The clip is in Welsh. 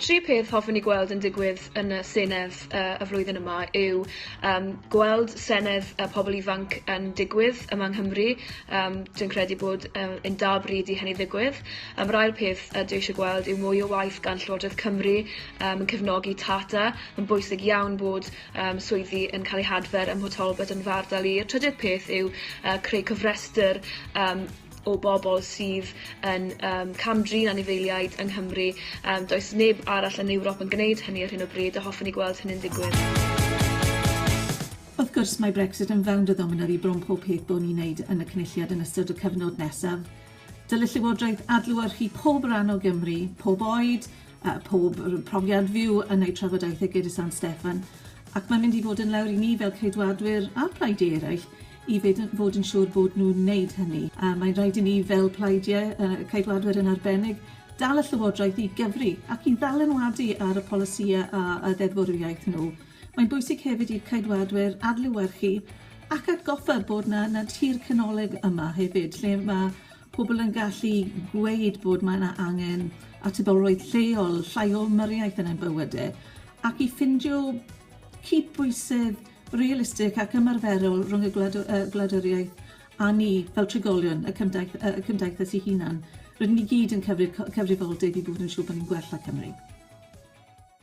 tri peth hoffwn i gweld yn digwydd yn y Senedd uh, y flwyddyn yma yw um, gweld Senedd y pobl ifanc yn digwydd yma yng Nghymru. Um, dwi'n credu bod um, yn da bryd i hynny ddigwydd. Mae'r ail peth dwi eisiau gweld yw mwy o waith gan Llywodraeth Cymru yn cefnogi Tata. Mae'n bwysig iawn bod swyddi yn cael eu hadfer ym Mho Talbot yn fy ardal i. Y trydydd peth yw creu cofrestr o bobl sydd yn cam-drin anifeiliaid yng Nghymru. Does neb arall yn Ewrop yn gwneud hynny ar hyn o bryd a hoffwn i gweld hynny'n digwydd. Wrth gwrs, mae Brexit yn fewnd a ddominar i bron pob peth bo ni'n neud yn y Cynulliad yn ystod y cyfnod nesaf. Dylid Llywodraeth adlewyrchu pob ran o Gymru, pob oed, a pob profiad fyw yn eu trafodaethau gyda San Steffan, ac mae'n mynd i fod yn lawr i ni fel Ceidwadwyr a phlaidiau eraill i fed yn, fod yn siŵr bod nhw'n wneud hynny. A mae'n rhaid i ni fel plaidiau, uh, Ceidwadwyr yn arbennig, dal y Llywodraeth i gyfri ac i ddalenwadu ar y polisïau a, a ddeddfwriaeth nhw. Mae'n bwysig hefyd i'r Ceidwadwyr adlewyrchu ac atgoffa bod 'na 'na tir canolig yma hefyd lle ma' pobl yn gallu gweud bod mae 'na angen atebolrwydd lleol, llai o ymyriaeth yn ein bywyde ac i ffindio cydbwysedd realistig ac ymarferol rhwng y gwlad- yy gwladwriaeth a ni fel trigolion y cymdaith- yy y cymdeithas 'i hunan. Rydyn ni gyd yn cyfrif- cy- cyfrifoldeb i bod yn siŵr bo' ni'n gwella Cymru.